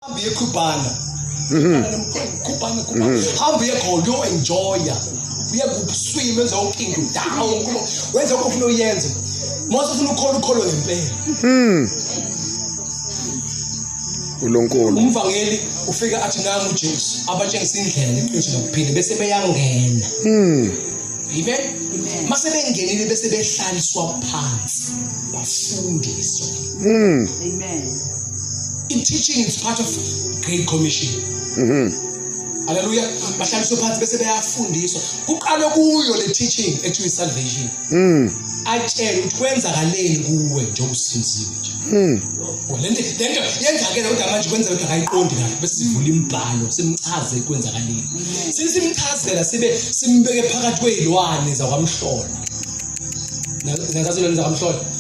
Hambi ekhubana. Mhm. Khubana khubana. Mhm. Hambi ekhona yo enjoya. Uye kubuswima enza ukingi down kuba wenza okufuna uyenze. Mose ufuna ukholo ukholo ngempela. Mhm. uNkulunkulu umvangeli ufike athi nami uJesu abatshengisa indlela neqiniso lokuphila bese beyangena mm amen mase bengenile bese behlaliswa phansi bafundiswe mm amen in teaching is part of great commission mhm haleluya bahlaliswe phansi bese beyafundiswa kuqale kuyo le teaching ekuthiwa isalvation mhm atshele ukuthi kwenzakaleni kuwe njengoba usinzile nje mhm oh, lento lento yenzakele kodwa manje kwenzeka ukuthi akayiqondi kahle bese sivula imibhalo simchaze kwenzakaleni sisimchazela sibe simbeke phakathi kwezilwane zakwamhlola nazazo lwana zakwamhlola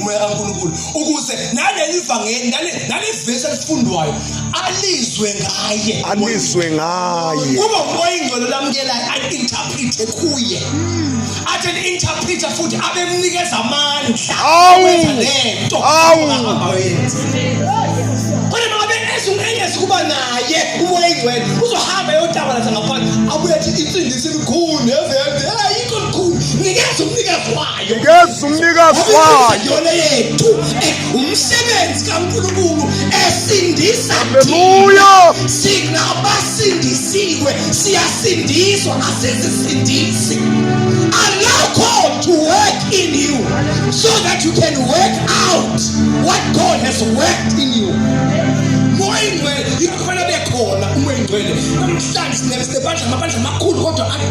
umoya kaNkulunkulu ukuze naleli vangeli nale vesi elifundwayo alizwe ngaye alizwe ngaye kuba umoya ingcwele lamukelayo ayi-interprete kuye athi ni-interprete futhi abemnikeza amandla awenza lento ahambayo yenza kodwa noma bengezo engezi kuba naye umoya ingcwele uzohamba eyotabalaza ngaphandle abuye athi insindisi elikhulu neveve ayikho likhulu nikeza umnikazi wayo ngeza umnikazi wayo yethu umsebenzi kaNkulunkulu esindisa haleluya sinabasindisiwe siyasindiswa asizisindisi allow God to work in you so that you can work out what God has worked in you moya ingcwele ikhona bekhona umoya ingcwele namhlanje sinebesebandla amabandla amakhulu kodwa adry